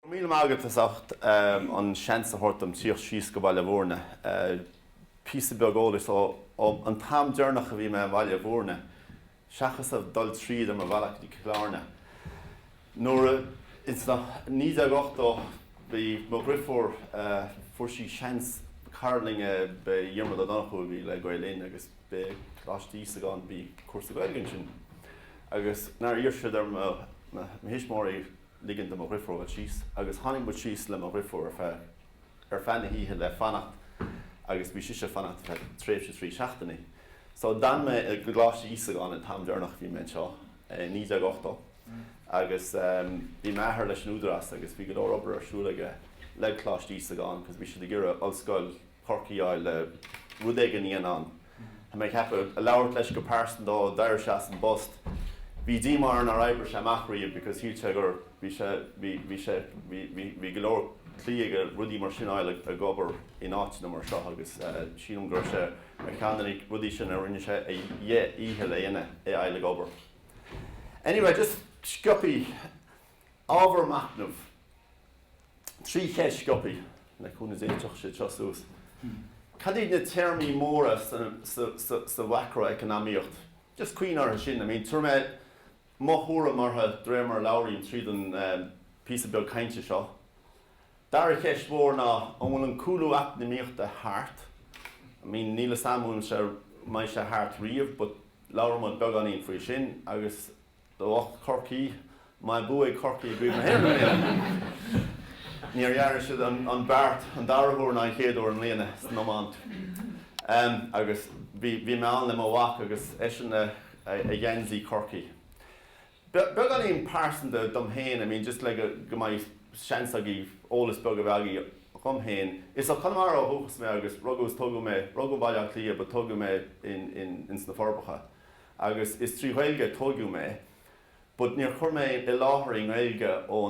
Go raibh míle maith agat as ucht an seans a thabhairt dom tíocht síos go Baile Mhúirne. Píosa beag eolais ón t-am deireanach a bhí mé i mBaile Mhúirne, seachas a dhul tríd ar mo bhealach go dtí Cill Áirne. Nuair a, in sna, 1980, bhí mo dhriofúr, fuair sí seans, cara linn é, b'é Diarmaid Ó Donnchú a bhí le Gael Linn agus b'é Coláiste Íosagáin a bhí cúrsa Gaeilge ansin. agus nár iarr siad ar mo thuismitheoirí ligean do mo dhriofúr dul síos, agus tháinig muid síos le mo dhriofúr ar feadh, ar feadh na hoíche le fanacht agus bhí sise ag fanacht ar feadh tréimhse trí seachtainí. So d'fhan mé i gColáiste Íosagáin an t-am deireanach a bhí mé anseo, i 1980, agus bhí m'athair leis an Údarás agus bhí go leor obair ar siúl aige le Coláiste Íosagáin cos bhí siad ag iarraidh ollscoil, Chorcaí a fháil le rud éigin a dhéanamh ann. Tá mé ag ceapadh, a labhairt leis go pearsanta, d'éirigh sé as an bpost. Bhí díomá orainn nár oibrigh sé amach riamh because shíl sé gur, bhí sé, bhí, bhí sé, bhí, bhí, bhí go leor cloí aige rudaí mar sin a fháil ag, ag obair in áiteanna mar seo agus eh, sílim go raibh sé ar cheann de na rudaí sin a rinne sé a dhé, dhícheall a dhéanamh é a fháil ag obair. Anyway, just sciobthaí. Ábhar machnaimh, Trí cheist sciobthaí, le cúnamh Dé tiocfaidh siad seo suas. Cad iad na téarmaí móra sa mhaicreacnamaíocht? Just cuimhnigh orthu sin. I mean tabharfaidh mé mo thuairim orthu de réir mar a labhraím tríd an píosa beag cainte seo. Dara cheist mhór ná an bhfuil an cúlú eacnamaíochta thart? I mean níl 'fhios a'm an bhfuil sé, an mbeidh sé thart riamh but labhróidh muid beagáinín faoi sin agus, Do lucht Chorcaí, an mbuafaidh Corcaigh i gCraobh na hÉireann i mbliana, níor dhearna siad an beart an dara huair ná an chéad uair i mbliana san iomáint. Agus bhí mé ann le mo mhac agus eisean i ngeansaí Chorcaí. Beagáinín pearsanta dom féin, I mean just le go mbeidh seans agaibh eolas beag a bheith agaibh fúm féin. Is as Conamara ó dhúchas mé agus rugadh is tógadh mé, rugadh i mBaile Átha Cliath but tógadh mé ins na Forbacha. agus is trí Ghaeilge a tóigeadh mé but níor chuir mé i láthair i nGaeilge ó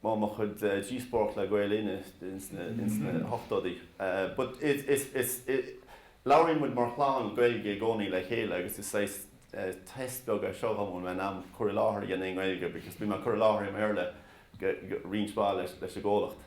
mo chuid díospóireacht le Gael Linn ins na hochtóidí but labhraíonn muid mar chlann Gaeilge i gcónaí le chéile agus is saghas test beag é seo dhom an bhfuil mé in ann cur i láthair a dhéanamh i nGaeilge because bíonn mé ag cur i láthair i mBéarla roinnt mhaith leis an gcomhlacht.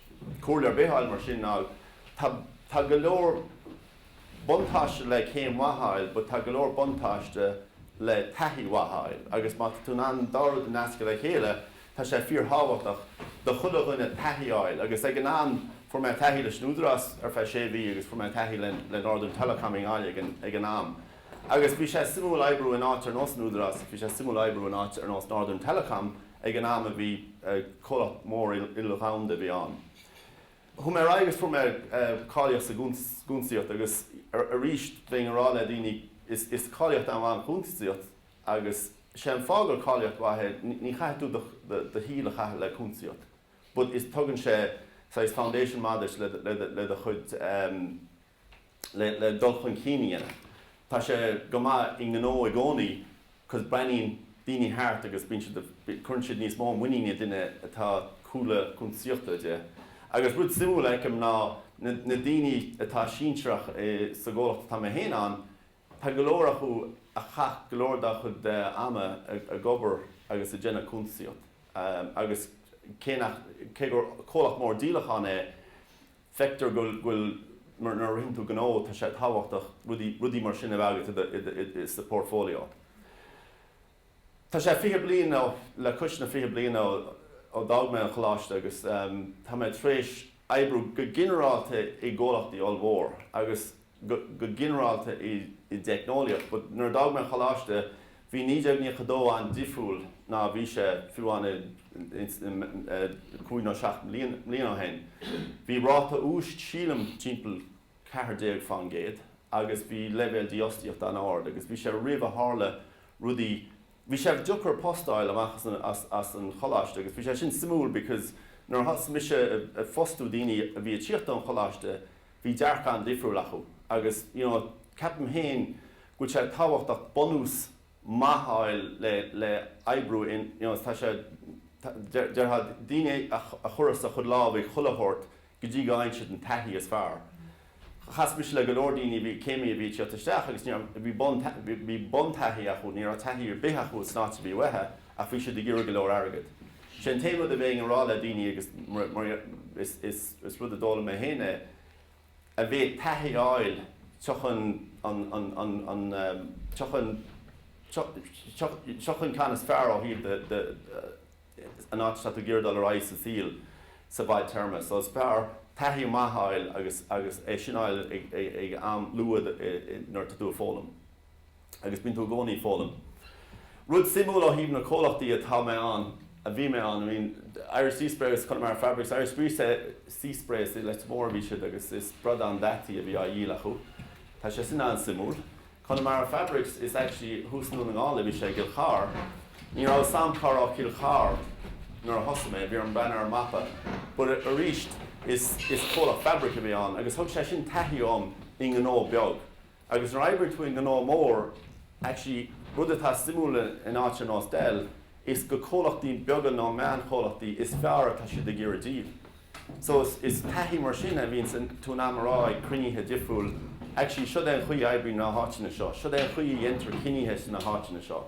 comhairle ar bith a fháil mar sin ná tá, tá go leor buntáiste le céim mhaith a fháil but tá go leor buntáiste le taithí mhaith a fháil agus má tá tú in ann an dá rud a nascadh le chéile tá sé fíorthábhachtach do chuile dhuine taithí a fháil agus ag an am, fuair mé taithí leis an Údarás ar feadh sé mhí agus fuair mé taithí le, le Northern Telecom i nGaillimh ag an, ag an am agus bhí sé suimiúil oibriú in áit ar nós an Údarás, bhí sé suimiúil oibriú in áit ar nós Northern Telecom Ag an am a bhí comhlacht mór il-dhomhanda a bhí ann. Chuaigh mé ar aghaidh agus fuair mé cáilíocht sa gcúntasaíocht agus arís bheinn a rá le daoine is cáilíocht an-mhaith an chúntasaíocht agus sé an fáth gur cáilíocht mhaith é ní chaithfidh tú do shaol a chaitheamh le cúntasaíocht but is tugann sé saghas foundation maith duit le do chuid le dul chun cinn a dhéanamh. Tá sé go maith i ngnó i gcónaí cause breathnaíonn daoine thart agus bíonn siad, cuireann siad níos mó muiníne i duine atá cúlra cuntasaíochta aige. Agus rud suimiúil a fheicim ná na daoine atá sinsearach sa gcomhlacht atá mé féin ann, tá go leor acu a chaith go leor dá chuid ama ag obair agus ag déanamh cuntasaíocht agus cé nach, cé gur comhlacht mór díolachán é, feictear go bhfuil, nuair a ritheann tú gnó, tá sé tábhachtach rudaí, rudaí mar sin a bheith agat i do portfolio. Tá sé fiche bliain nó le cois fiche bliain ó d'fhág mé an choláiste agus tá mé tar éis oibriú go ginearálta i gcomhlachtaí ollmhór agus go ginearálta i dteicneolaíocht but nuair a d'fhág mé an choláiste bhí 1992 an-difriúil ná a bhí sé fiú amháin cúig nó seacht mbliana ó shin. Bhí ráta úis sílim timpeall ceathair déag faoin gcéad agus bhí leibhéal dífhostaíochta an-ard agus bhí sé roimh a tharla rudaí bhí sé deacair post a fháil amach as an choláiste agus bhí sé sin suimiúil because nuair a thosaigh mise ag fostú daoine a bhí ag tíocht ón choláiste bhí dearcadh an-difriúil acu agus you know ceapaim féin go bhfuil sé tábhachtach bunús maith a fháil le le oibriú in you know tá sé tá déarfá daoine a chuirfeadh sa chuid lámh ag chuile thabhairt go dtí go fhaigheann siad an taithí is fearr chas mise le go leor daoine a bhí céimí a bhí ag tíocht isteach agus you know bhí bun bhí bun taithí acu ní raibh taithí ar bith acu san áit a bhí uatha Ach bhí siad ag iarraidh go leor airgid. Sé an t-aon rud a bheinn a rá le daoine, agus mar is rud a d'fhoghlaim mé féin é, a bheith ag taithí a fháil sa gceann is fearr ó thaobh an áit atá tú ag iarraidh dul ar aghaidh sa saol sa bhfadtéarma. So is fearr taithí maith a fháil agus é sin a fháil ag am luath nuair atá tú ag foghlaim. agus bíonn tú i gcónaí ag foghlaim. Rud suimiúil ó thaobh na comhlachtaí atá mé ann, a bhí mé ann, I mean, Irish Sea Sprays, Connemara Fabrics, Irish Sea Sea Sprays, i Leitir Mór a bhí siad agus is bradán deataithe a bhí á dhíol acu. Tá sé sin an-suimiúil. Connemara Fabrics is actually thuas i nDún na nGall a bhí sé, i gCill Charr. Ní raibh a fhios agam cá raibh Cill Charr nuair a thosaigh mé, bhí orm breathú ar an mapa. But arís is is comhlacht fabric a bhí ann agus thug sé sin taithí dhom i ngnó beag. Agus nuair a oibríonn tú i ngnó mór, actually rud atá suimiúil in áit ar nós Dell, is go comhlachtaí beaga nó meánchomhlachtaí is fearr atá siad ag iarraidh díol. So is taithí mar sin a bhíonns tú in ann a rá ag cruinnithe difriúil, actually seod é an chaoi a oibríonn na háiteanna seo, seod é an chaoi a dhéantar cinnithe sna háiteanna seo.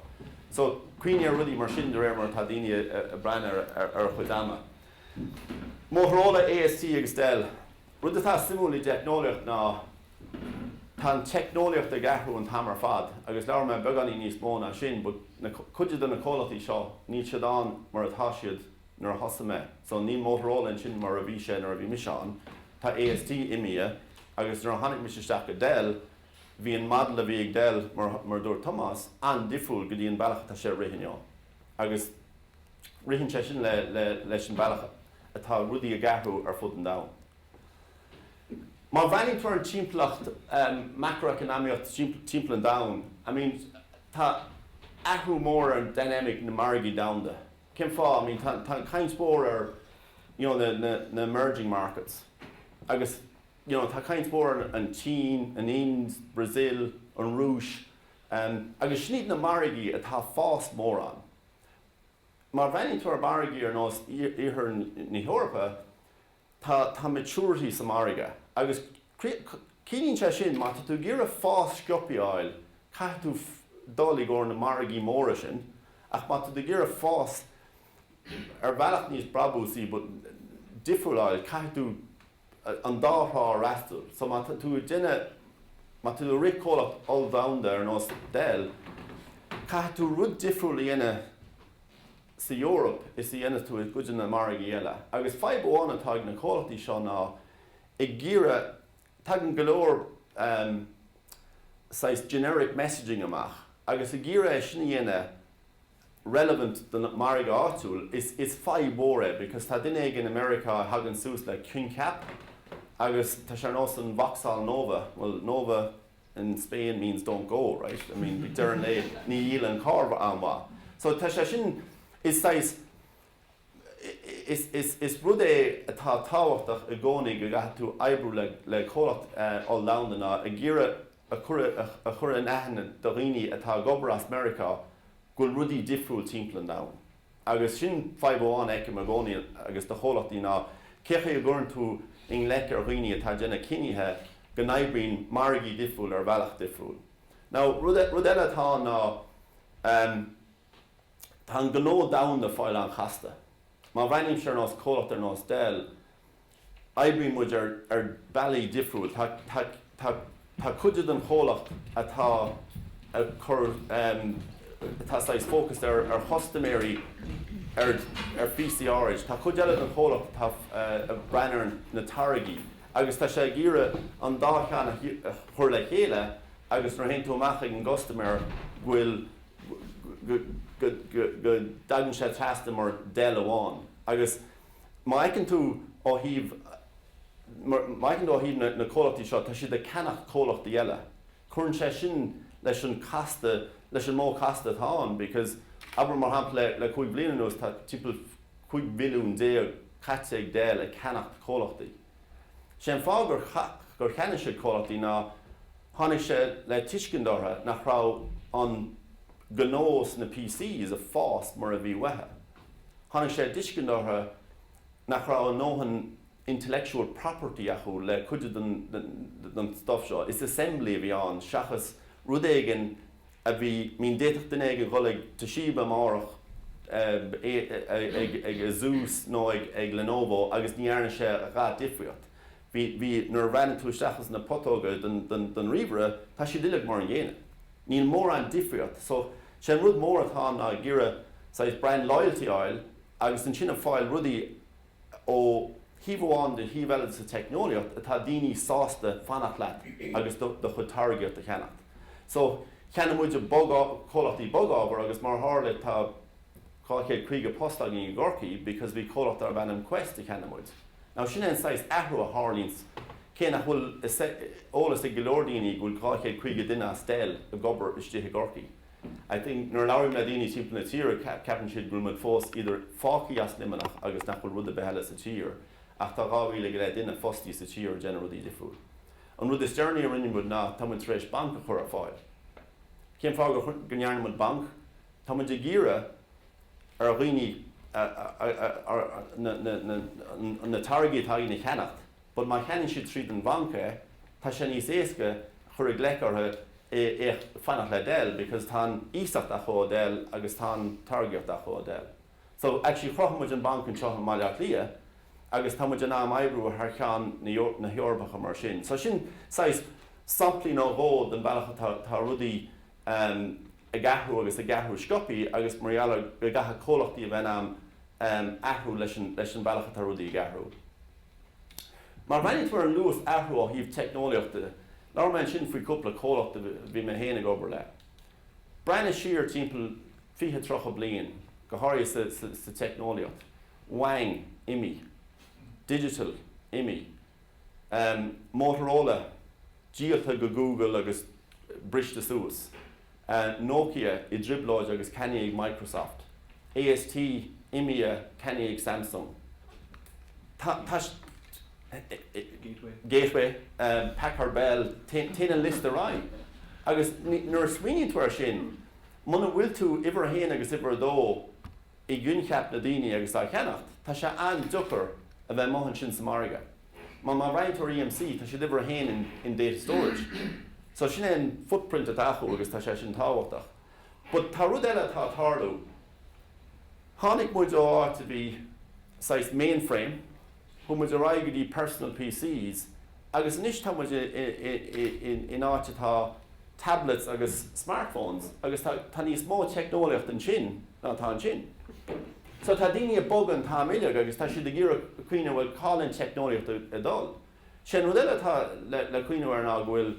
So cuimhnigh ar rudaí mar sin de réir mar atá daoine ag breathnú ar a chuid ama. Motorola, AST agus Dell. Rud atá suimiúil i dteicneolaíocht ná tá an teicneolaíocht ag athrú an t-am ar fad agus labhróidh mé beagáinín níos mó faoi sin but na, cuid de na comhlachtaí seo níl siad ann mar atá siad nuair a thosaigh mé so níl Motorola ansin mar a bhí sé nuair a bhí mise ann, tá AST imithe agus nuair a tháinig mise isteach go Dell bhí an model a bhí ag Dell mar, mar a dúirt Tomás, an-difriúil go dtí an bealach atá sé ag rith inniu agus ritheann sé sin le, le, leis an bealach a. atá rudaí ag athrú ar fud an domhain. Má bhreathnaíonn tú ar an timpeallacht maicreacnamaíochta timpeall an domhain, I mean, tá athrú mór ar an dynamic na margaí domhanda. Cén fáth? I mean, tá caint mhór ar, you know, na emerging markets agus, you know, tá caint mhór ar an tSín, an Ind, Brazil, an Rúis, agus sin iad na margaí atá ag fás mórán. Má bhreathnaíonn tú ar mhargaí ar nós Iarthar na hEorpa, tá tá maturity sa margadh agus ciallaíonn sé sin má tá tú ag iarraidh fás scioptha a fháil, caithfidh tú dul i gcomhair na margaí móra sin ach má tá tú ag iarraidh fás ar bhealach níos brabúsaí but difriúil a fháil, caithfidh tú. an dá thrá a fhreastal. So má tá tú ag déanamh, má tá tú ag rith comhlacht olldomhanda ar nós Dell, caithfidh tú rud difriúil a dhéanamh sa Eoraip is a dhéanas tú i gcuid de na margaí eile. Agus fadhb amháin atá ag na comhlachtaí seo ná ag iarraidh, tagann go leor ehm saghas generic messaging amach agus ag iarraidh é sin a dhéanamh, relevant don margadh áitiúil is is fadhb mhór é because tá duine éigin i Meiriceá a thagann suas le coincheap agus tá sé ar nós an Vauxhall Nova bhuel Nova in Spain means don't go right I mean ag deireadh an lae níor dhíol an carr an-mhaith so tá sé sin is saghas Is rud eile atá tábhachtach i gcónaí go gcaithfidh tú oibriú le comhlacht oll-dhomhanda ná ag iarraidh a chur in aithne do dhaoine atá ag obair as Meiriceá go bhfuil rudaí difriúil timpeall an domhain. Agus sin fadhb amháin a fheicim i gcónaí ag, do chomhlachtaí ná cé chaoi a gcuireann tú ina luí ar dhaoine atá ag déanamh cinntí go n-oibríonn margaí difriúil ar bhealach difriúil. Now rud eile atá ann ná, Tá an gnó domhanda ag fáil an-chasta. Má bhreathnaím siar nós comhlacht ar nós Dell, oibríonn muid ar ar bealaí difriúil. Tá tá tá tá cuid den chomhlacht atá atá saghas fócasta ar ar chustaiméirí ar ar phíosaí áiride. Tá cuid eile den chomhlacht atá ag breathnú ar na táirgí agus tá sé ag iarraidh an dá cheann a chur le chéile agus nuair a théann tú amach ag an gcustaiméir go bhfuil go dtagann sé trasna mar Dell amháin agus má fheiceann tú ó thaobh, má fheiceann tú ó thaobh na comhlachtaí seo, tá siad ag ceannacht comhlachtaí eile. Cuireann sé sin leis an casta, leis an modh casta atá ann because abair mar shampla le cúig bhliain anuas tá timpeall 15 mhilliún caite ag Dell ag ceannacht comhlachtaí. Sé an fáth gur cheannaigh siad comhlachtaí ná tháinig sé i dtuiscint orthu nach raibh an gnó sna PCs ag fás mar a bhí uathu. Tháinig sé i dtuiscint orthu nach raibh a ndóthain intellectual property acu le cuid den stuff seo, is assembly a bhí ann seachas rud éigin, a bhí I mean d'fhéadfadh duine éigin dhul ag Toshiba amárach ag ag Asus nó ag ag Lenovo agus ní dhearna sé a dhath difríocht bhí bhí nuair a bhreathnaigh tú isteach ins na putóga don don don ríomhaire tá siad uilig mar an gcéanna níl mórán difríocht so sé an rud mór atá ann ná ag iarraidh saghas brand loyalty fháil agus ansin ag fáil rudaí ó thaobh amháin nó thaobh eile de sa teicneolaíocht atá daoine sásta fanacht leat agus do do chuid táirgíocht a cheannacht. So, cheannaigh muid comhlachtaí bogábhair agus mar a tharla tá 250 post againn i gCorcaigh because bhí comhlacht darb ainm Quest a cheannaigh muid. Now, sin é an saghas athrú a tharlaíonns cé nach bhfuil eolas ag go leor daoine go bhfuil 250 duine as Dell ag obair istigh i gCorcaigh. I think nuair a labhraím le daoine timpeall na tíre ceapann siad go bhfuil muid fós either fágtha as Luimneach agus nach bhfuil rud ar bith eile sa tír ach tá 2,000 go leith duine fostaí sa tír ag déanamh rudaí difriúil. An rud is deireanaí a rinne muid ná tá muid tar éis banc a chur ar fáil. Cén fáth go ndearna muid banc? Tá muid ag iarraidh ar dhaoine na táirgí atá againn a cheannacht. but má cheannaíonn siad tríd an bhanc é, tá sé níos éasca cur ina luí orthu é fanacht le Dell because tá an iasacht acu ó Dell agus tá an táirgíocht acu ó Dell. So actually chruthaigh muid an banc anseo i mBaile Átha Cliath agus tá muid in ann oibriú thar cheann na hEorpa mar sin. So sin saghas samplaí nó dhó den bealach atá rudaí um ag athrú agus ag athrú sciobtha agus mar gheall ar go gcaithfidh comhlachtaí a bheith in ann athrú leis an bhealach atá rudaí ag athrú. Má bhreathnaíonn tú ar an luas athraithe ó thaobh teicneolaíochta, labhair mé ansin faoi chúpla comhlacht a bhí mé féin ag obair le. Breathnaigh siar timpeall fiche tríocha bliain, go háirithe sa teicneolaíocht. Wang, imithe. Digital, imithe. Motorola díolta go Google agus briste suas, Nokia i dtrioblóid agus ceannaithe ag Microsoft, AST imithe ceannaithe ag Samsung, Gateway, Packard Bell, téann an liosta ar aghaidh agus nuair a smaoiníonn tú air sin, muna bhfuil tú uimhir a haon agus uimhir a dó, i gcoincheap na daoine agus dá cheannacht, tá sé an-deacair a bheith amuigh ansin sa margadh. Mar, mar roinnteoir EMC, tá siad uimhir a haon in, in data storage. So, sin é an footprint atá acu agus tá sé sin tábhachtach. But tá rud eile atá ag tarlú. Tháinig muid ó áit a bhí saghas mainframe, Chuaigh muid ar aghaidh go dtí Personal PCs agus anois tá muid in áit atá tablets agus smartphones agus tá níos mó teicneolaíocht ansin ná atá ansin. So tá daoine ag bogadh an t-am uilig agus tá siad ag iarraidh cuimhneamh bhuel cá bhfuil an teicneolaíocht ag dul? Sé an rud eile atá le cuimhneamh air ná go bhfuil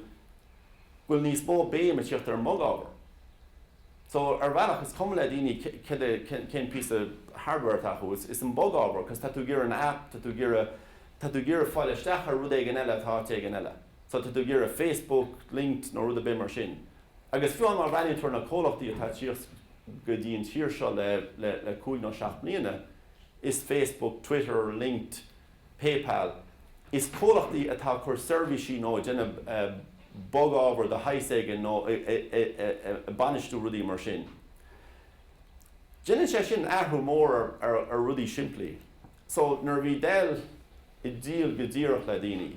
bhfuil níos mó béim ag tíocht ar an mbog-ábhar. So, ar bhealach, is cuma le daoine cén píosa hardware atá acu, is an bog ábhar, cos tá tú ag iarraidh an app, tá tú ag iarraidh, tá tú ag iarraidh fáil isteach ar rud éigin eile atá áit éigin eile. So, tá tú ag iarraidh Facebook LinkedIn nó rud ar bith mar sin. Agus fiú amháin má bhreathnaíonn tú ar na comhlachtaí atá ag tíocht go dtí an tír seo le cúig nó seacht mbliana, is Facebook, Twitter linked, PayPal. Is comhlachtaí atá ag cur seirbhísí nó ag déanamh bog-ábhair de shaghas éigin nó ag bainistiú rudaí mar sin. Déanann sé sin athrú mór ar rudaí simplí. So, nuair a bhí Dell ag díol go díreach le daoine,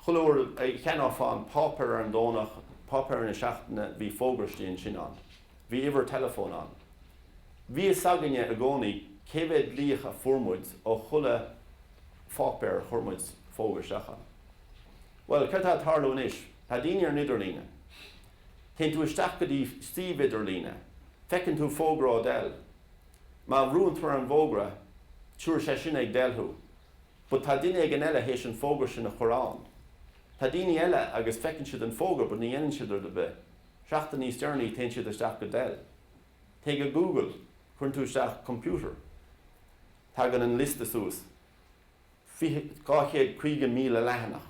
chuile uair a cheannófá an páipéar ar an Domhnach, páipéar na seachtaine, bhí fógraistí ansin ann. Bhí uimhir teileafóin ann. Bhí fhios againne i gcónaí cé mhéad glaoch a fuair muid ó chuile pháipéar a chuir muid fógra isteach ann. Bhuel, céard tá ag tarlú anois? Tá daoine ar an idirlíne. Téann tú isteach go dtí suíomh idirlíne. Feiceann tú fógra ó Dell. Má bhrúann tú ar an bhfógra, tiúrfaidh sé sin ag Dell thú. But tá duine éigin eile théis an fógra sin a chuir ann. Tá daoine eile agus feiceann siad an fógra but ní dhéanann siad rud ar bith. Seachtain níos deireanaí téann siad isteach go Dell. Téigh go Google, cuireann tú isteach 'computer'. Tagann an liosta suas. Fiche, dhá chéad, caoga míle leathanach.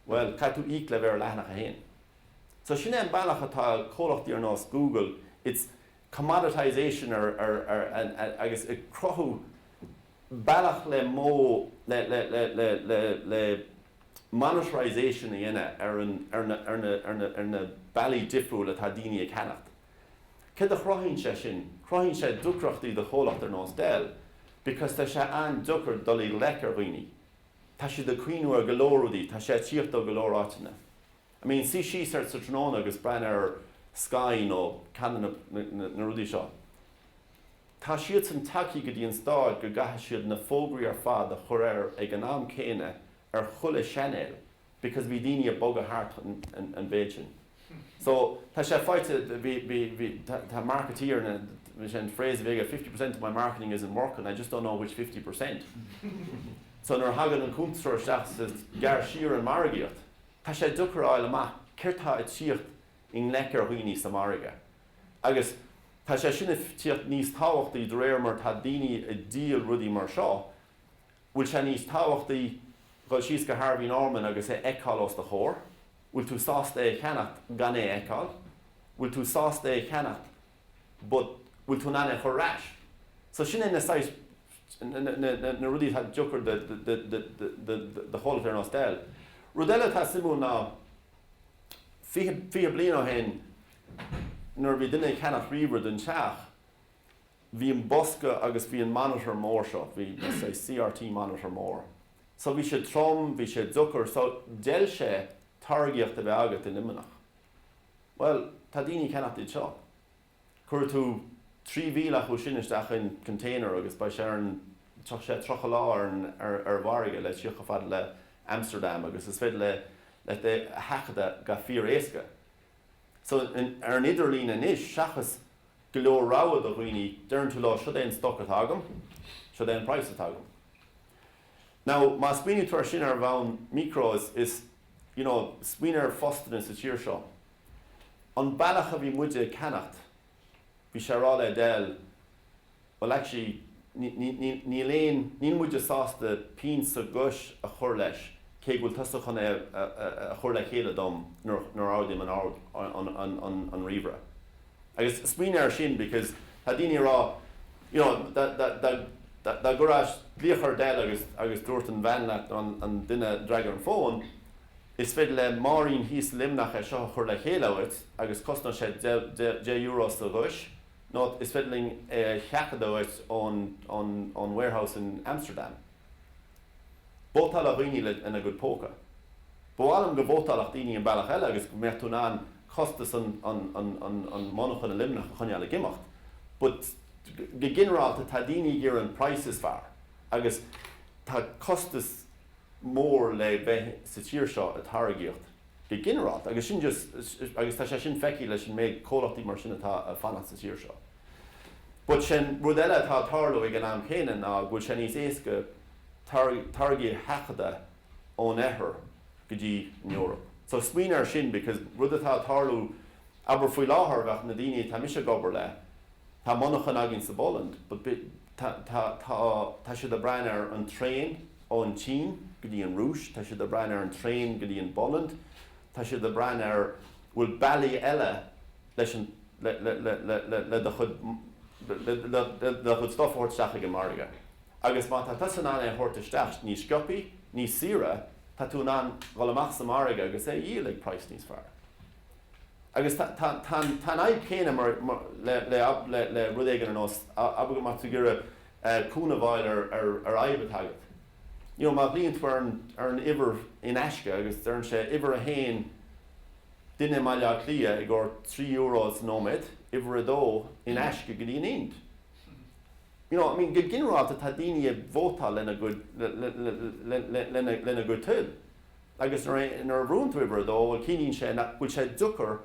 Bhuel, caithfidh tú íoc le bheith ar leathanach a haon. So sin é an bealach atá comhlachtaí ar nós Google, it's 'commoditisation' agus ag cruthú, bealach le monetisation a dhéanamh ar na bealaí difriúla atá daoine ag ceannacht. Céard a chruthaíonn sé sin? Cruthaíonn sé deacrachtaí do chomhlacht ar nós Dell because tá sé an-deacair dul i ngleic ar dhaoine. Tá siad ag cuimhniú ar go leor rudaí, tá sé ag tíocht ó go leor áiteanna. I mean, suí síos ansin sa tráthnóna agus breathnaigh ar Sky nó ceann de na rudaí seo. Tá siadsan tagtha go dtí an stáid go gcaithfidh siad na fógraí ar fad a chur air ag an am céanna ar chuile chainéal because bhí daoine a' bogadh thart an mhéid sin. So, tá sé faighte, bhí, bhí, bhí, tá marketeer na, bhí sé an phrase a bhí aige fifty percent of my marketing isn't working, I just don't know which fifty percent. So, nuair a thagann an cuntasóir isteach gearr siar an margaíocht. Tá sé deacair a fháil amach céard tá a' tíocht i ngleic ar dhaoine sa margadh. Agus tá sé sin ag tíocht níos tábhachtaí de réir mar tá daoine ag díol rudaí mar seo, bhfuil sé níos tábhachtaí dhul síos go Harvey Norman agus é fheiceáil os do chomhair, bhfuil tú sásta é a cheannacht gan é a fheiceáil, bhfuil tú sásta é a cheannacht but bhfuil tú in ann é a chur ar ais. So sin é na saghas, na rudaí atá deacair do chomhlacht ar nós Dell. Rud eile atá suimiúil ná, fiche bliain ó shin, Nuair a bhí duine ag ceannacht ríomhaire don teach, bhí an bosca agus bhí an monitor mór seo, bhí CRT monitor mór. So bhí sé trom, bhí sé deacair, so d'fheil sé táirgíocht a bheith agat i Luimneach. Bhuel, tá daoine ag ceannacht iad seo. Cuirfidh tú 3,000 acu sin isteach in container agus beidh sé ar an, tógfaidh sé 30 lá ar an, ar an bhfarraige le tíocht a fhad le Amsterdam agus is féidir le, é a sheachadadh go fíor éasca. So, ar an idirlíon anois, seachas go leor rogha do dhaoine, deireann tú leo, 'siod é an stoc atá agam, siod é an praghas atá agam. Now, má smaoiníonn tú ar sin ar bhonn micro, is, you know, smaoinigh ar phostanna sa tír seo. An bealach a bhí muide ag ceannacht, bhí sé ar fáil ó Dell, Well actually níl aon, níl muide sásta pingin sa gcois a chur leis cé go bhfuil tusa chun é a chur le chéile dom nuair a ardaím an ríomhaire. Agus smaoinigh air sin because tá daoine ag rá you know dá gcuirfeá glaoch ar Dell agus agus dúirt an bhean leat nó an duine a d'fhreagair an fón is féidir le Máirín thíos i Luimneach é seo a chur le chéile dhuit agus cosnóidh sé deich euro sa gcois. Nota, Is féidir linn é a sheachadadh dhuit ón warehouse in Amsterdam. Vótálann daoine lena gcuid póca. Ba mhaith liom go vótálfadh daoine an bealach eile agus go mbeadh tú in ann costas an monarchan i Luimneach a choinneáil ag imeacht but go ginearálta tá daoine ag iarraidh an praghas is fearr agus tá costas mór le bheith sa tír seo ag táirgíocht. go ginearálta, agus sin just, agus tá sé sin feicthe leis an méid comhlachtaí mar sin atá ag fanacht sa tír seo. But sin rud eile atá ag tarlú ag an am chéanna ná go bhfuil sé níos éasca táirgí a sheachadadh ón oirthear go dtí an Eoraip. So smaoinigh ar sin because rud atá ag tarlú, abair faoi láthair bheadh na daoine atá mise ag obair le, tá monarchan againn sa bPolainn but, Tá, tá, tá, tá siad a' breathnú ar an traen ón tSín go dtí an Rúis, tá siad a' breathnú ar an traen go dtí an bPolainn, tá siad a' breathnú ar, bhfuil bealaí eile leis an, le, le, le, le, le, le do chuid, le, le, le, le do chuid stuff a thabhairt isteach ag an margadh. Agus má tá tusa in ann é a thabhairt isteach níos sciobtha, níos saoire, tá tú in ann dhul amach sa mhargadh agus é a dhíol ag praghas níos fearr. Agus tá an fhadhb chéanna le rud éigin ar nós abair go mbeadh tú ag iarraidh cúnamh a fháil ar fhadhb atá agat. Má ghlaonn tú ar an uimhir in aisce agus deireann sé, uimhir a haon, duine i mBaile Átha Cliath i gcomhair trí euro sa nóiméad, uimhir a dó, in aisce go dtí an Ind. You know, I mean, go ginearálta tá daoine ag vótáil lena gcuid toil. Agus nuair a bhrúnn tú uimhir a dó, bhuel, ciallaíonn sé nach bhfuil sé deacair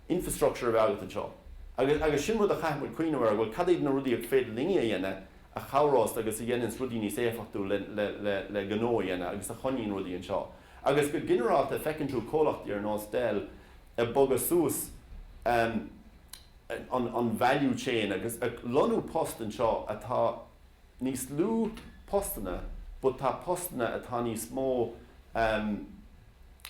infrastructure a bheith agat anseo. Agus, agus sin rud a chaithfidh muid cuimhneamh air, bhuel, cad iad na rudaí is féidir linne a dhéanamh a chabhrós agus a dhéananns rudaí níos éifeachtúil le, le, le, le gnó a dhéanamh agus a choinníonn rudaí anseo. Agus go ginearálta, feiceann tú comhlachtaí ar nós Dell ag bogadh suas, em, an, an value chain agus ag lonnú post anseo atá, níos lú postanna but tá postanna atá níos mó em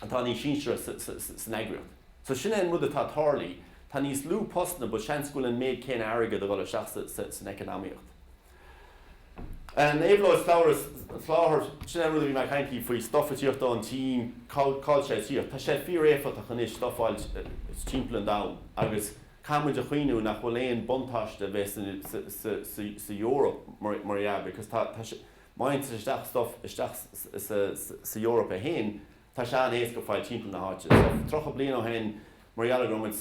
atá níos sinsearach sa sa san eagraíocht so sin é an rud atá a' tarlú tá níos lú postanna but seans go bhfuil an méid céanna airgead a dhul isteach sa sa san eacnamaíocht. Em éabhlóid slabhra soláthair sin é an rud a bhí mé a' caint faoi faoi stuff a tíocht ón tSín cá'l cá'l sé a tíocht tá sé fíor éifeachtach anois stuff fháilt timpeall an domhan agus Caithfimid a chuimhniú nach bhfuil aon buntáiste a bheith sa Eoraip mar dhea because tá sé, má fhaigheann tú stuff isteach sa Eoraip í féin, tá sé an-éasca fáil timpeall na háite. So, tríocha bliain ó shin, mar gheall go raibh muid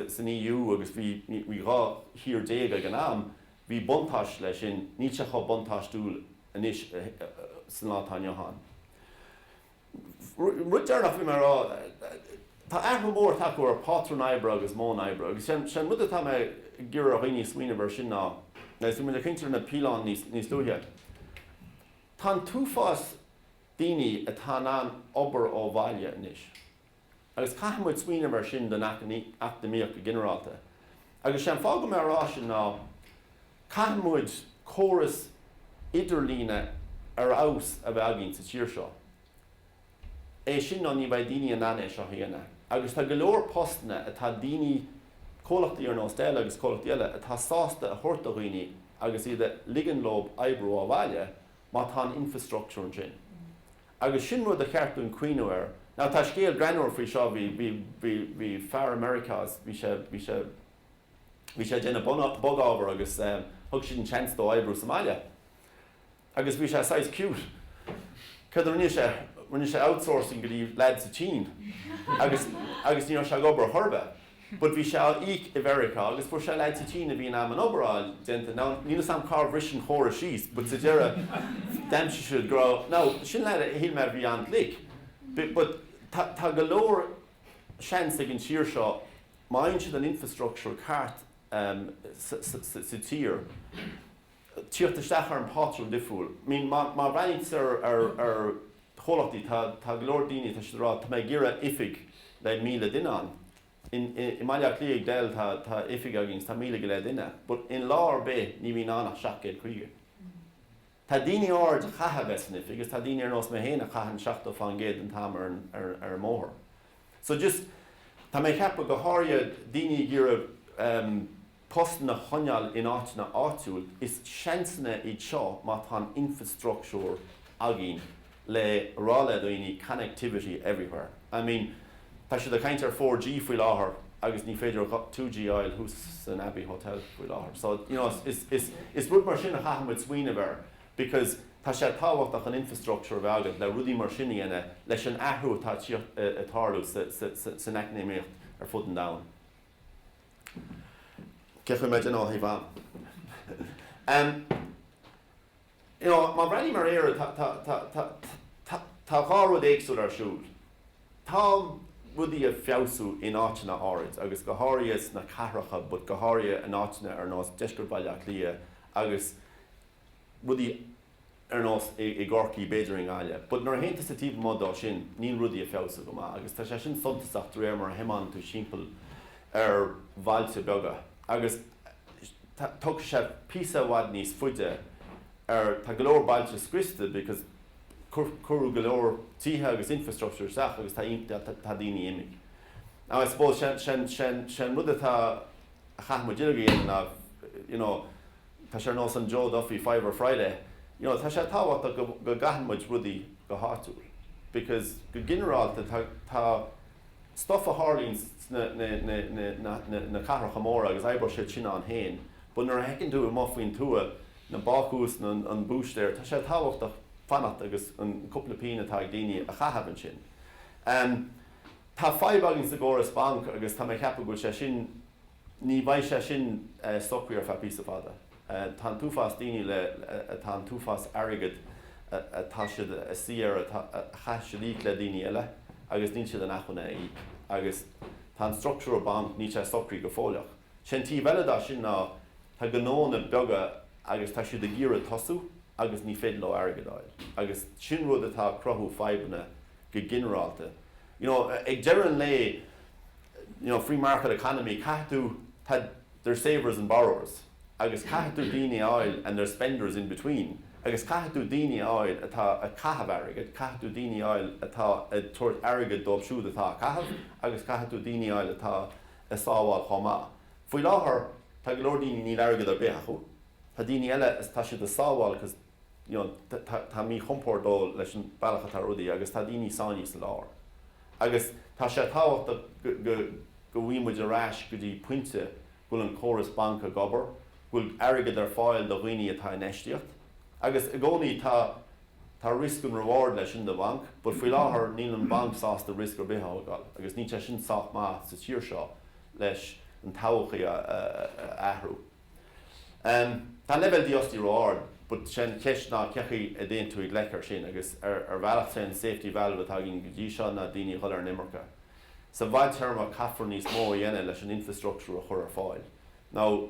san EU agus bhí dhá thír déag ag an am, bhí buntáiste leis sin, níl sé chomh buntáistiúil anois sa lá atá inniu ann. Rud deireanach a bhí mé ag rá, tá athrú mór ag teacht ar pátrúin oibre agus modhanna oibre agus sé an rud atá mé ag iarraidh ar dhaoine smaoineamh ar sin ná, agus bhí muid ag caint ar na PLáin níos luaithe, tá an t-uafás daoine atá in ann obair ó bhaile anois. agus caithfidh muid smaoineamh mar sin don eacnamaíocht go ginearálta. Agus sé an fáth go mbeadh mé ag rá sin ná caithfidh muid córas idirlíne ar feabhas a bheith againn sa tír seo. É sin nó ní bheidh daoine in ann é seo a dhéanamh. Agus tá go leor postanna atá daoine, comhlachtaí ar nós Dell agus comhlachtaí eile atá sásta a thabhairt do dhaoine agus iad a ligean leo oibriú ó bhaile má tá an infreastruchtúr ansin. Agus sin rud ar cheart dúinn cuimhniú air. Now tá scéal greannmhar faoi seo, bhí, bhí, bhí, bhí fear i Meiriceá is bhí sé, bhí sé, bhí sé ag déanamh bun, bog ábhar agus eh thug siad an seans dó oibriú sa mbaile agus bhí sé saghas cute, céard a rinne sé, rinne sé outsourcing go dtí lad sa tSín agus, agus ní raibh sé ag obair chor ar bith. But bhí sé á íoc i Meiriceá agus fuair sé lad sa tSín a bhí in ann an obair fháil déanta. Now, níl 'fhios a'm cár bhris an córas síos but sa deireadh d'aimsigh siad go raibh, now, sin lad a shíl mé a bhí an-ghlic but tá, tá go leor seans ag an tír seo má fhaigheann siad an infrastructure ceart sa, sa, sa, sa tír. teacht isteach ar an pátrún difriúil. Má bhreathnaíonn tú ar chomhlachtaí, tá go leor daoine atá siad ag rá tá mé ag iarraidh oifig le míle duine ann. I mBaile Átha Cliath ag Dell tá oifig againn is tá míle go leith duine but in lá ar bith ní bhíonn ann ach seacht gcéad caoga. Tá daoine áirid a chaithfidh a bheith san oifig is tá daoine ar nós mé féin a chaitheann seachtó fán gcéad den t-am ar an mbóthar. So just tá mé ag ceapadh go háirid daoine ag iarraidh, postanna a choinneáil in áiteanna áitiúil, is seansanna iad seo má tá an infreastruchtúr againn le rá le daoine connectivity everywhere. I mean tá siad ag caint ar four G faoi láthair agus ní féidir two G a fháil thuas san Abbey Hotel faoi láthair. So you know is rud mar sin a chaithfidh muid smaoineamh air because tá sé tábhachtach an infreastruchtúr a bheith agat le rudaí mar sin a dhéanamh leis an athrú atá ag tarlú san eacnamaíocht ar fud an domhain. Cén chaoi a mbeidh? Em, you know, má bhreathnaím ar Éire, tá, tá, tá, tá, tá, tá dhá rud éagsúil ar siúl. Tá rudaí ag feabhsú in áiteanna áirid agus go háirithe sna cathracha but go háirithe in áiteanna ar nós deisceart Bhaile Átha Cliath agus rudaí ar nós i gCorcaigh, b'fhéidir i nGaillimh, but nuair a théann tusa taobh amuigh dó sin, níl rudaí ag feabhsú go maith agus tá sé sin suntasach de réir mar a thiomáineann tú timpeall ar bhailte beaga agus tógfaidh sé píosa i bhfad níos faide ar, tá go leor bailte scriosta because cuireadh go leor tithe agus infrastructure isteach agus tá, tá daoine imithe. Now I suppose sé an rud atá, a chaithfidh muid uilig a dhéanamh ná you know, Tá sé ar nós an Joe Duffy Fiver Friday, you know, tá sé tábhachtach go gcaitheann muid rudaí go háitiúil because go ginearálta tá, tá stuff ag tarlú sna, na, na, na, na, na, na cathracha móra agus oibreoidh siad sin ar aon nós but nuair a fheiceann tú amuigh faoin tuath na bácús na, an búistéir, tá sé tábhachtach fanacht agus an cúpla pínn atá ag daoine a chaitheamh ansin. Tá fadhb againn sa gcóras banc agus tá mé a cheapadh go bhfuil sé sin, Ní bheidh sé sin socraithe ar feadh píosa fada. Tá an t-uafás daoine le, tá an t-uafás airgid atá siad ag suí air, a chaithfidh siad íoc le daoine eile agus níl siad in acmhainn é a íoc. Agus tá an struchtúr banc, níl sé socraithe go fóilleach. Sé an taobh eile dá sin ná tá gnónna beaga agus tá siad ag iarraidh tosú agus ní féidir leo airgead a fháil. Agus sin rud atá ag cruthú fadhbanna go ginearálta. You know, ag deireadh an lae, you know, free market economy, caithfidh tú, tá, there's savers and borrowers agus caithfidh tú daoine a fháil and there's spenders in between agus caithfidh tú daoine a fháil atá ag caitheamh airgid, caithfidh tú daoine a fháil atá ag tabhairt airgid dóibh siúd atá á chaitheamh agus caithfidh tú daoine a fháil atá ag sábháil chomh maith. Faoi láthair, tá go leor daoine, níl airgead ar bith acu, tá daoine eile, tá siad ag sábháil cause. you know tá tá míchompord leis an bealach atá rudaí agus tá daoine sáinnithe sa lár agus tá sé tábhachtach go go go bhfaigheann muid ar ais go dtí pointe go bhfuil an córas banc ag obair go bhfuil airgead ar fáil do dhaoine atá ag infheistíocht agus i gcónaí tá tá risk and reward leis sin do bhanc ach faoi láthair níl an banc sásta risk ar bith a thógáil agus níl sé sin sách maith sa tír seo leis an todhchaí a a athrú. Tá an leibhéal dífhostaíocht ró-ard, but sé an cheist ná cé chaoi a dtéann tú i ngleic ar sin agus ar ar bhealach sé an safety valve atá againn go dtí seo ná daoine a dhul ar an imirce. Sa bhfadtéarma caithfear níos mó a dhéanamh leis an infreastruchtúr a chur ar fáil. Now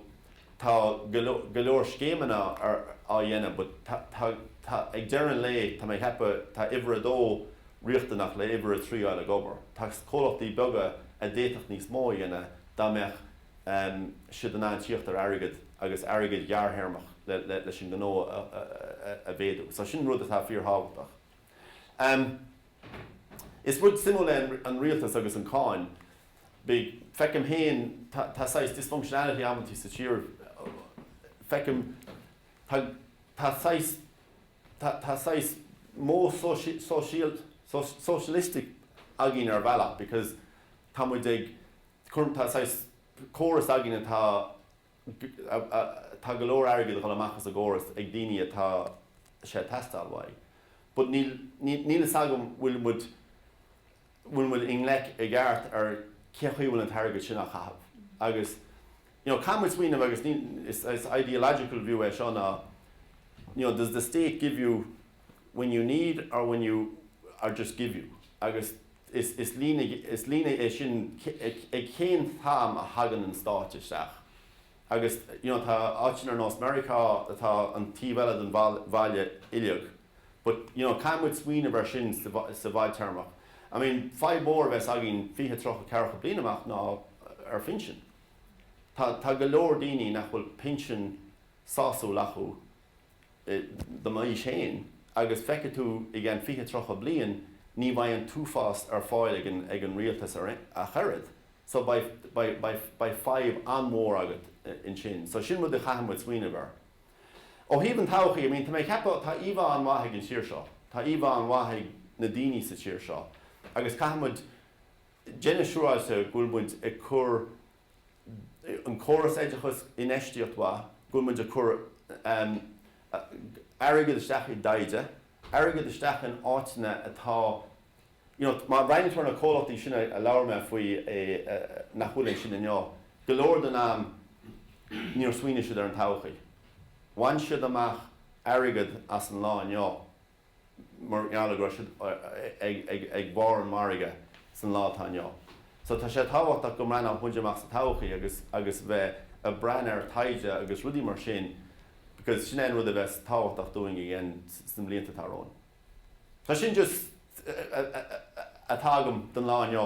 tá go leor scéimeanna á dhéanamh but tá tá ag deireadh an lae tá mé ag ceapadh tá uimhir a dó riachtanach le uimhir a trí a fháil ag obair. Tá comhlachtaí beaga a d'fhéadfadh níos mó a dhéanamh dá mbeadh siad in ann tíocht ar airgead agus airgead gearrthéarmach leis an ngnó a mhéadú. So sin rud atá fíorthábhachtach. Is rud suimiúil é an rialtas agus an cáin bhig. Feicim féin, tá saghas dysfunctionality amantaí sa tír. Feicim, tá saghas, tá saghas modh sóisialaíoch againn ar bhealach because tá muid ag Cuireann, tá saghas córas againn atá, tá go leor airgid a dhul amach as an gcóras ag daoine a bhfuil sé ag teastáil uathu but níl, níl, níl fhios agam bhfuil muid, bhfuil muid i ngleic i gceart ar cén chaoi a bhfuil an t-airgead sin á chaitheamh agus you know caithfidh muid smaoineamh agus ní, is, is ideological view é seo ná you know does the state give you when you need or when you, or just give you agus Is líne é sin ag cén t-am a thagann an Stát isteach agus you know tá áiteanna ar nós Meiriceá atá ar an taobh eile den bhalla uileag but you know caithfidh muid smaoineamh ar sin sa bhfadtéarmach. I mean fadhb mhór a bheas againn fiche tríocha ceathracha bliain amach ná ar phinsin. Tá go leor daoine nach bhfuil pinsean sásúil acu de m'aois féin agus feicfidh tú i gceann fiche tríocha bliain ní bheidh an t-uafás ar fáil ag an rialtas ach oiread so beidh fadhb an-mhór agat ansin. So sin rud a chaithfidh muid smaoineamh air. Ó thaobh an todhchaí, I mean tá mé ag ceapadh tá íomhá an-mhaith ag an tír seo, tá íomhá an-mhaith ag na daoine sa tír seo agus caithfidh muid déanamh siúráilte go bhfuil muid ag cur an córas oideachais infheistíocht mhaith go bhfuil muid ag cur airgead isteach i dtaighde, airgead isteach in áiteanna atá you know má bhreathnaíonn tú ar na comhlachtaí sin a labhair mé faoi, nach bhfuil ansin inniu, go leor den am, níor smaoinigh siad ar an todhchaí. Bhain siad amach airgead as an lá inniu mar gheall go raibh siad ag barr an mhargaidh san lá atá inniu so tá sé tábhachtach go mbreathnódh muid amach sa todhchaí agus agus bheith ag breathnú ar taighde agus rudaí mar sin because sin é an rud a bheas tábhachtach dúinn a dhéanamh sna blianta atá romhainn so sin just a tá agam don lá inniu.